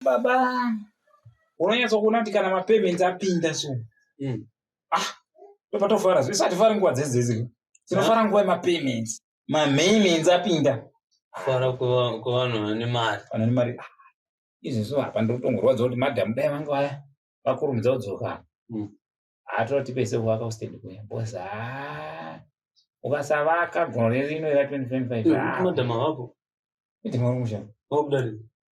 baba unonyatsa kuona kuti kana mapayments apinda so mm. ah ndopatovara zvese atifari nguva dzedzedzi tinofara nguva yemapayments mamayments apinda fara kuvanhu vane mari vanhu vane mari ah, izvezvo hapa ndotongorwadza kuti madhamu dai vanga vaya vakurumidza kudzoka mm. hatoti pese kuvaka ustedi kuya bos a ah, ukasavaka gore rino ra 2025 madhamu avapo madhamu ari mushana vakudarika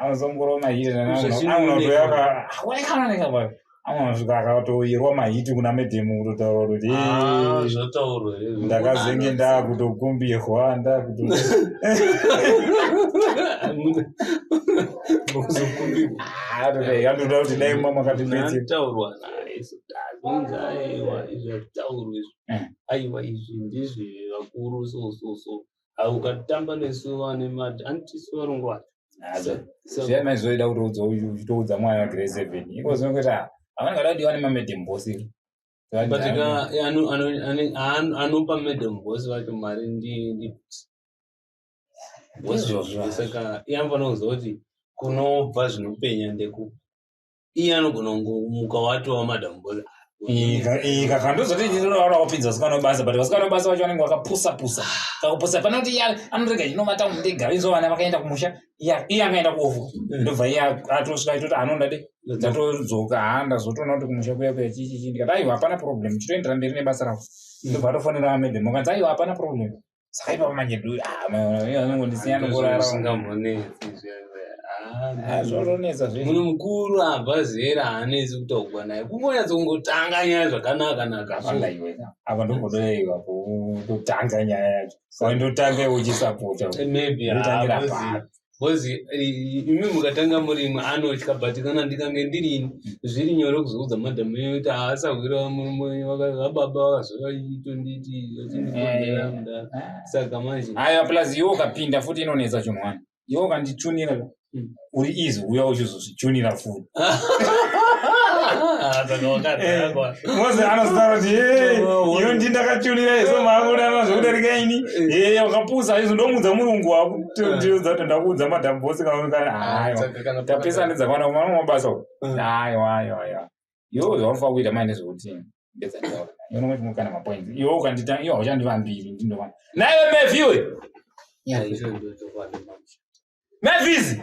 anozongorova mahiti anosvika akatoyerwa mahiti kuna medhemu kutotaura kuti ah, ndakazenge ndakutokumbirwa ndakuto anoda kuti dai mama katibetseaurwa zvonzi aiwa izvi hazvitaurwi izvi aiwa izvi ndizvi vakuru so so so Ah, ukatamba nesu vane mad antisu varungu vacho So- zviyana izvoida kutoudza uyu uchitoudza mwana wagrade seven iko zvinongoti ah, havana kada kuti vane mamadam bosi but ka eh, ano- ano- ane- aan- anopa madam boss vacho mari ndi ndi Ndizvozvo. saka iye anofana kuziva kuti kunobva zvinopenya ndeku iye anogona kungomuka watova madam boy ika kandozoti ndinoona wapinza vasikana vebasa but vasikana vebasa vacho vanenge vakapusa pusa kakupusa pane kuti iya anorega chinomata mudega inzo vana vakaenda kumusha iya iye akaenda kuofu ndobva iye atosvika itoti anoda de dzatodzoka haa ndazotoona kuti kumusha kuya kuya chichichi ndikati aiwa hapana problem chitoendera mberi nebasa ravo ndobva atofonera amedem ukanzi aiwa hapana problem saka ipapo manje nduyaaanongondisingangoraazvozvonetsa ah, ah, munhu mukuru abva zera haanetsi kutaugwa naye kungonyatsa kungotanga nyaya zvakanaka nakaapa ndongodoiwa kutanga nyaya yacho ndotanga uchisapota maybe bcoz imi mukatanga murimi anotya but kana ndikange ndirini zviri nyore kuzoudza madam enyu kuti haasahwira vababa vakazovaitonditi vachindikonzera mudaro saka manje haya plus iwe ukapinda futi inonetsa chinhu wani iwe ukanditunira uri easy uya uchizozvi tichonira foni mose anozotara kuti iyo ndi ndakachonira iso maakudanana zvekudarika ini e wakapusa izvo ndomudza murungu wakutotiudza kuti ndakuudza madhamu bose kaonekana tapesane dzakwana kumana mabasa uku aiwa aiwa aiwa yo zvaunofaa kuita maine zvekuti ndedzandaona yonomatimukana mapoints iwo ukandita iyo hauchandivambiri ndindova naiwe meviwe mevizi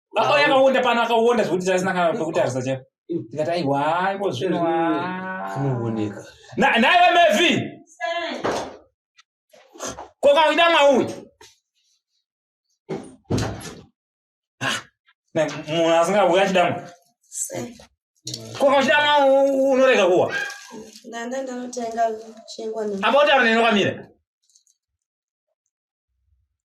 Ako yakawonda pano akawonda zvekuti tasina kana pekutarisa chaipo. Tikati aiwa iko zvino. Anooneka. Na naye vamevi. Koka kuita mwaui. Ah, na munhu asingauya chidamwa. Koka uchida mwa unorega kuwa. Ndanda ndanotenga chingwa. Apa utaura neno kwamira.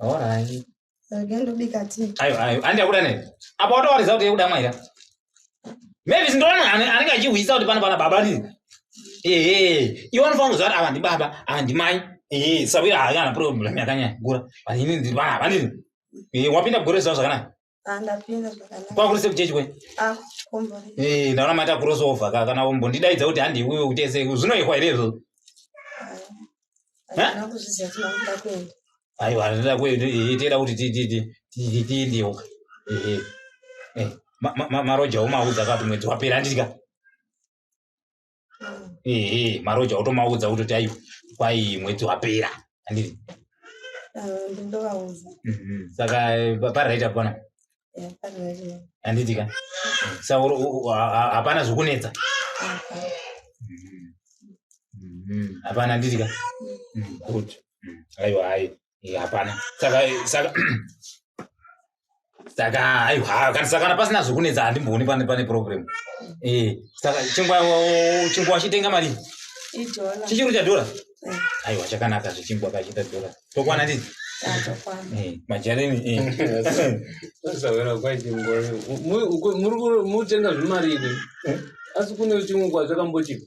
Alright. Rega ndobika tea. Ayo ayo andi akuda nei? Apa watowaridza kuti yekuda mwaira. Mavis ndoona ane- anenge achihwisa kuti pana pana baba nini. Ehe, iwe unofanira kuziva kuti ava ndi baba, ava ndi mai. Ehe, sabira hayo ana problem yakanyanya kukura. Vanini ndiri vana vanini. Ehe, wapinda gore zvawo zvakanaka. kwakurisa kuchechi kwe ah, eh, ndaona maita crossover ka kana umbondidaidza kuti handi iwewe kuti ese zvinoyekwa here izvozvo aiwa ndinoda kuenda eh, toda kuti tiendewo eh, marojawo maudza kati mwedzi wapera handidya ehe maroja wotomaudza kutoti ayo kwai mwedzi wapera andii ndindovaudza mhm. saka pariraita pona handitika sa hapana zvokunetsa hapana handitika good aiwa hai Eh, hapana saka saka saka haiwa kana saka kana pasina zvekunetsa handimbooni pane pane problem eh saka chingwa chingwa chitenga mari Idola. chichiro cha dollar Eh, aiwa chakanaka zvichingwa kachita dollar tokwana ndizi atokwana. eh majarini eh Sasavera kwaiti ngori. Mu- uko- muri ku- mutenga zvimari izvi. Asi kune chimwe kwacho kambochipa.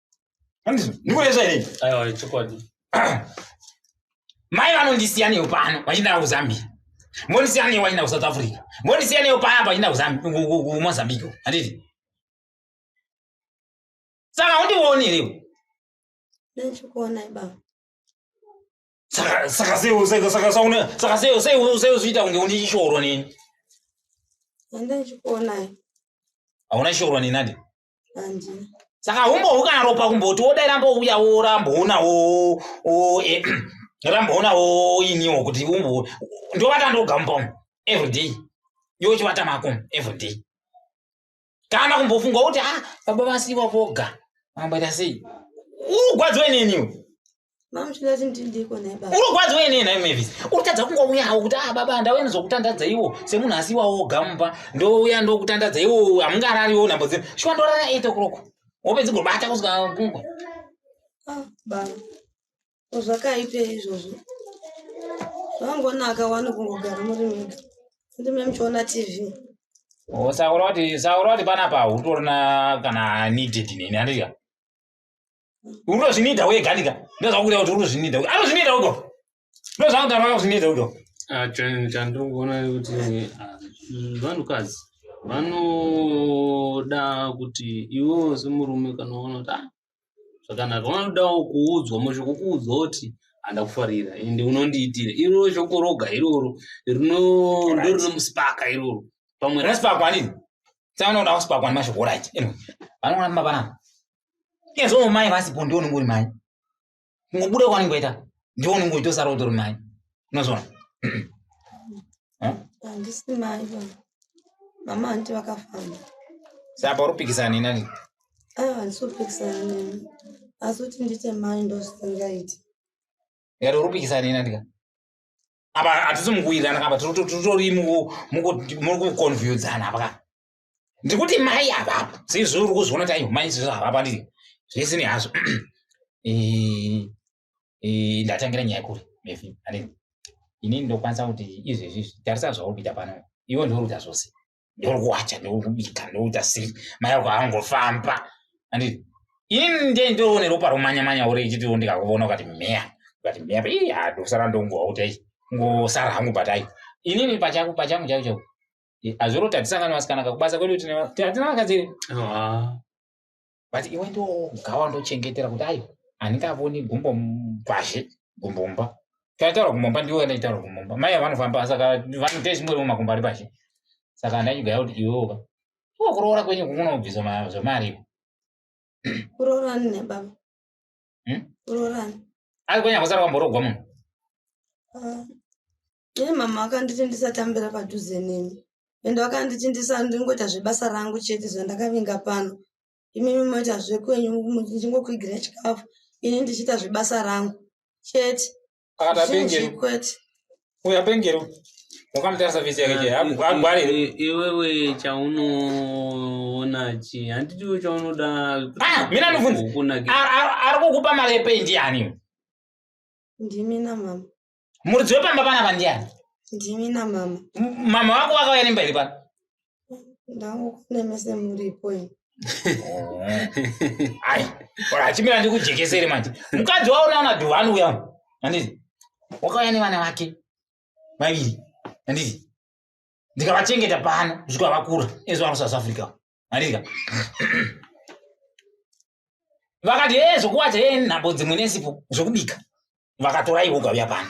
ndikureza here aiwa chokwadi mai vanondisiya neyo pano vachindara kuzambia mbondisiya neyo vachinda kusouth africa mbondisiya neyo paya vachinda kumozambique handiti saka undioni here saka seuziita kunge une chishoro neni hauna chishoro neni adi saka humbohu kana ropa kumboti wodai rambouya woramboona wo eh, ramboona wo iniwo kuti umbo ndovata ndogambo everyday yochivata mako everyday kana kumbofunga kuti a ah, baba vasiwa voga mamboita sei urugwadziwe neniwo urikwadziwa inei nhai mavis urikutadza kungouyawo kuti a ah, baba ndauya nizokutandadza iwo semunhu asi iwawo ogamumba ndouya ndokutandadza iwo hamungarariwo nhambo dzino shuwa ndorara eight o'clock wopedzi gobata kusvika kungwa ah, baba zvakaipe izvozvo zvangonaka wani kungogara muri mega ndime muchiona tv oh, saura kuti saura kuti panapa utorina kana needed nini andidya unozvinida wega ndika ndozvakuda kuti unozvinida anozvinida uko ndozvaanogara akazvinida uko Ah, chan- chandongoona kuti ah, mm, vanhukadzi vanoda kuti iwewo semurume kana uona kuti ah, zvakanaka vanodawo kuudzwa mashoko kuudzwa kuti handakufarira ende unondiitira iroro shoko roga iroro rino- ndorinomusipaka iroro pamwe rasi- raspa kwanini saka unoda kusipakwa nemashoko oraiti vanoona mumba panapa ezoo mai vasipo ndiwo unenge uri mai kungobuda kwanenge waita ndiwo unenge uchitosara utori mai unozona handisi mai mama hanti vakafamba saka pauri kupikisana neni ani aiwa handisi kupikisana neni asi kuti ndiite mai ndozvisingaiti yari uri kupikisana neni andika apa hatisi mukuwirirana kapa tiritori mukukonfyudzana apa ka ndiri kuti mai avapo seizvi uri kuzviona taivo mai izvizvo havapa ndiri zvese ne hazvo ndatangira nyaya kuri mefi ane inini ndokwanisa kuti izvezvi tarisa zvauri kuita pano iwe ndiuri kuita zvose ndiri kuwacha ndiri kubika ndiri kuita sei mai ako angofamba anditi ini nde ndirione ropa romanya manya uri ichitiwo ndikakuvona ukati meya ukati meya ii ha ndosara ndongowa kuti ai ngosara hangu batai inini pachako pachangu chako chako azviro tatisangana vasikana kakubasa kwedu hatina vakadzi ah. but iwe ndogawa ndochengetera kuti ayi handingavoni gumbo mbazhe gumbo mba taitaura kumomba ndiwe ndaitaura kumomba mai vanofamba saka vanote zvimwe rimwe makumba ari pazhe saka ndaigaya kuti iweoka iwe kuroora kwenyu kukunobvisa zvemariko kuroorani nebaba hmm? kuroorani ari kwenya kusara kwamborogwa munhu ah. Iye mama vakanditi ndisatambira padhuze nemi ende vakanditi ndisandingoita zvebasa rangu chete zvandakavinga pano imimi moita zvekwenyu ndichingokuigira chikafu ini ndichiita zvebasa rangu chete kwete uya pengero wakamutasa visi yake che agware ah, eh, eh, iwewe chaunoona chi handiti iwe chaunoda ah, mina ndobvunza ari kukupa mari yependi yani ndimina mama muridzi wepamba panapa ndiani ndimi namama M- mama vako vakauya nemba iri pano ndangokunemese muripo ini ai ora achimira ndikujekesere manje mukadzi waona ona dhuva anouya uno handiti wakauya nevana vake vaviri handiti ndikavachengeta pano kusvika vakura ezvavano south africa handiti ka vakati hee zvokuwacha hee nhambo dzimwe nesipo zvokubika vakatora ivo ukauya pano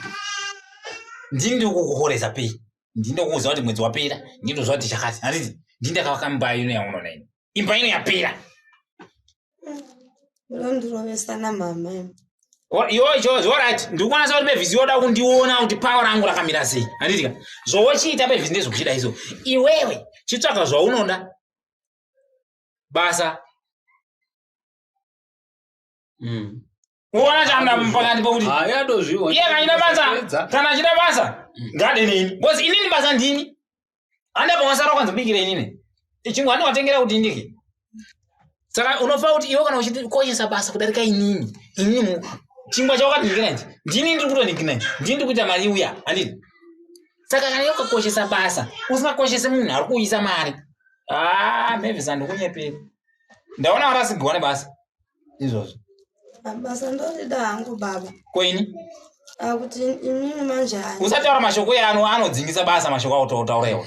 ndini ndikukuhoresa pei ndini ndokuuza kuti mwedzi wapera ndini ndozva kuti chakati handiti ndini ndakavaka imba ino yaunoona ino imba ino yapera unondirovesana mama yocho zvorit ndikuonasa kuti bevhisi yoda kundiona kuti pawa rangu rakamira sei handitika zvowochiita bevhisi ndezvokuchida izo iwewe chitsvaga zvaunoda basa mm. uona changa pakati pokuti iye kachida basa kana achida basa mm. ngade nini bcause inini basa ndini anda pamasara kwanzi bikire inini ichingu andi watengera kuti ndiki saka unofa kuti iwe kana uchikoshesa basa kudarika inini inini chingwa chawakati ndikina ichi ndini ndiri kutonikina ichi ndini ndiri kuita mari uya andini saka kana yokakoshesa basa usingakoshese munhu ari kuuyisa mari haa ah, mavis andikunyeperi ndaona varasigirwa nebasa izvozvo basa ndorida hangu baba koini ah, kuti imimi manje usataura mashoko eano anodzingisa basa mashoko autauraiwa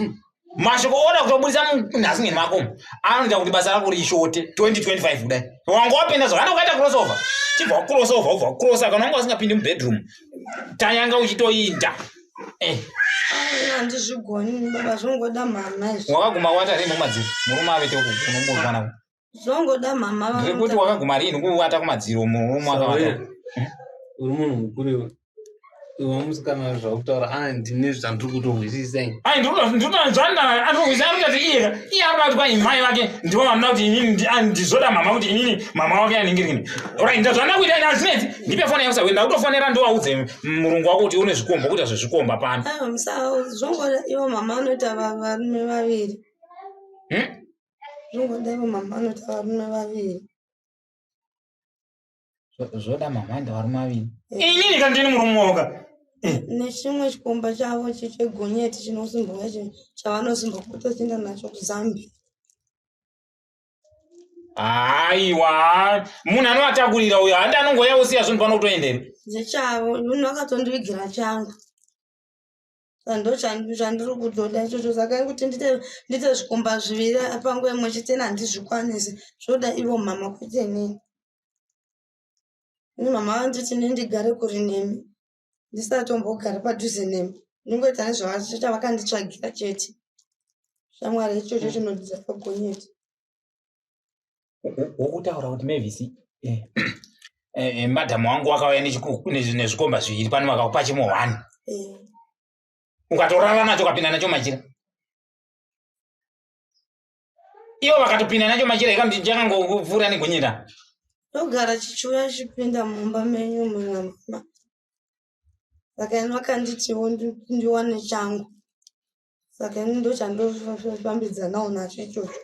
mashoko oda kutobudisa munhasingeni mako anoita kuti basa rako rishote 2025 kudai wanga wapinda zvakana ukaita crossover chibva wacrossover ubva wacrossa kana wanga wasingapindi mubedroom tanyanga uchitoinda eh. handizvigoni baba zvingoda mhamha izvi wakaguma watarimomadziri murume avete unombozvana zvongoda mama zvekuti wakaguma rini kuvata kumadziro mwakavata uri munhu mukuru iwe iwe musikana zvakutaura a ndine zvandiri kutohwisisa ai ndinotanzvana andohwisisa ari kutati iye iye ari kutati kwai mai vake ndivo vamuna kuti inini ndizoda mama kuti inini mama wake anenge rini orit ndazvanda kuita ini azvinetsi ndipe foni yakusa wenda kutofonera ndowaudze murungu wako kuti une zvikombo kuita zvezvikomba pano zvongoda ivo mama vanoita varume vaviri hmm? Zvingoda ivo mama vanoti varume vaviri. Zvoda mama anda varume vaviri. Inini kana ndini murume woga. Eh. Nechimwe chikomba chavo chechegonyeti chinosimbuka chavanosumbuka kutoenda nacho kuZambia. Aiwa, munhu anovatakurira uyo handi anongoya osiya zvinhu pano kutoendera. Zvichavo, munhu akatondivigira changu. ndo chandiri kutoda ichocho saka kuti ndite ndite zvikomba zviviri panguva imwe chete ina handizvikwanisi zvoda ivo mhama kwete nini ini mhama vanditi ni ndigare kuri nemi ndisatombogare padhuze nemi ndingoita nezvavachita vakanditsvagira chete shamwari ichocho chinodidza pagonyeti wokutaura kuti mevisi eh, eh, eh, madhamu wangu wakauya nezvikomba zviviri pano vakakupa chimwe one ukatorara nacho ukapinda nacho machira ivo vakatopinda nacho machira ikamti ndichakangokupfuura nekunyira ndogara chichiuya chipinda mumba menyu mumamama saka ini vakanditiwo ndiwane changu saka ini ndochandofambidzanawo nacho ichocho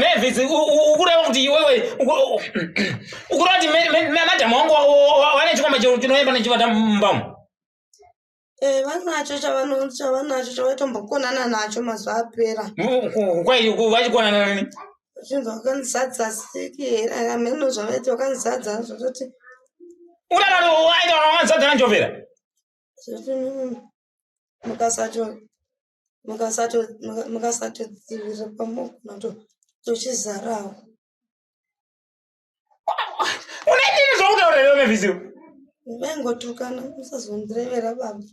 mavis ukureva kuti iwewe ukureva kuti madhamu wangu wane chikomba chinoyemba nechivata mumbamu Eh, vanacho chavanacho chavaitombokonana nacho mazuva apera kwai vachikonana nani Uchinzwa wakanzi sadza siki here ameno zvavaiti wakanzi sadza zvototi Unadaro waita wakanzi sadza nanjovera. zvoti mm, mukasato mukasato muka- mukasatodzivirira pamogona to tochizarawo Unaitini zvokutaura here Mavis? vaingotukana musazondirevera baba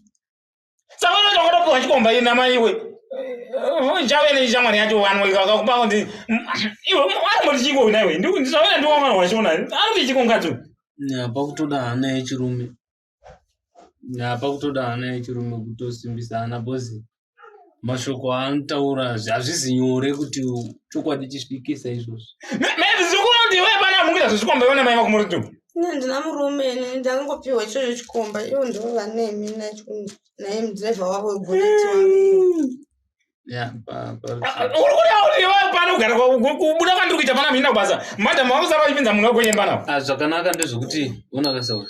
saka unoita wakatopiwa chikomba ina maiwe chave nechishamwari yacho vanhu vakakupa kuti iwe ari moti chiko una iwe ndisavena ndiwamwana wachona ari kuti chiko ngadzo apa kutoda hana yechirume apa kutoda hana yechirume kutosimbisa hana bhozi mashoko aanotaura hazvisi nyore kuti chokwadi chisvikisa izvozvi mezvikuti iwe pana mungira zvezvikomba iwe namai vakumuritu ine ndina murume ini ndangopiwa ichocho chikomba ivo ndivo vanemi naye mudhirevha wavo wegureti kubuda kwandiri kuita pana mhina kubasa madam vakusara vachipinza munhu wekunyemba navo ah, zvakanaka ndezvekuti unakasauri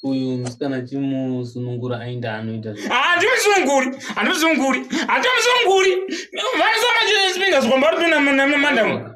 uyu musikana chimusunungura ainda anoita handimusununguri ah, handimusununguri handimusununguri vanosamachispinza zvikomba uri tuna mandamu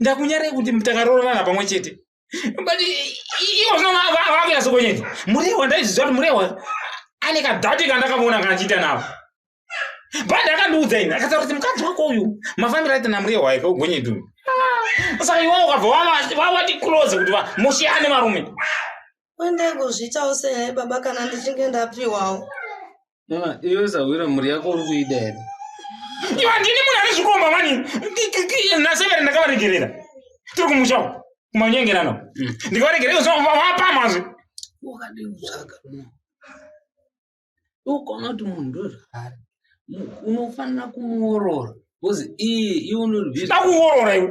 ndakunyarei kuti takaroorana pamwe chete but ivo zvino vakunyasokonyeti murewa ndaizviziva kuti murewa ane kadhati kandakavona kandichiita navo but akandiudza ini akataura kuti mukadzi wako uyu mafambiro aita namurewa aika ugonyeti uyu ah, saka iwo ukabva vavati close kuti mushiyane varume kwendegozviitawo sehai baba kana ndichinge ndapiwawo Mama, iwe sahwira mhuri yako uri kuida here? Iwe handini munhu ane zvikomba mani. Nasevere ndakavaregerera. Tiri kumusha uko. Kumanyengerano. Mm. Ndikavaregerera iwe zvino vapamazve. Wakadii kutsvaga munhu? Ukaona kuti munhu ndozvaari. Unofanira kumuorora. Because iye iwe unozvizwa. Ndakuorora iwe.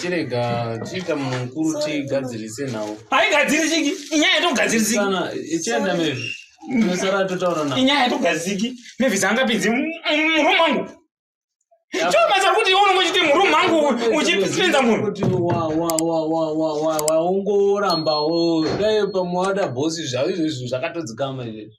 chirega chiita mukuru tigadzirise nhau haigadzirisiki inyaya yatogadzirisikaenda mezvi inosara totaura na inyaya yatogadzirisiki mevhi dzangapinzi murumu mangu chomaza kuti iwe unenge uchiti murumu mangu uchipinza munhuwaungorambawo dai pamwe wada bhosi zvavo izvozvo zvakatodzikama izvezvi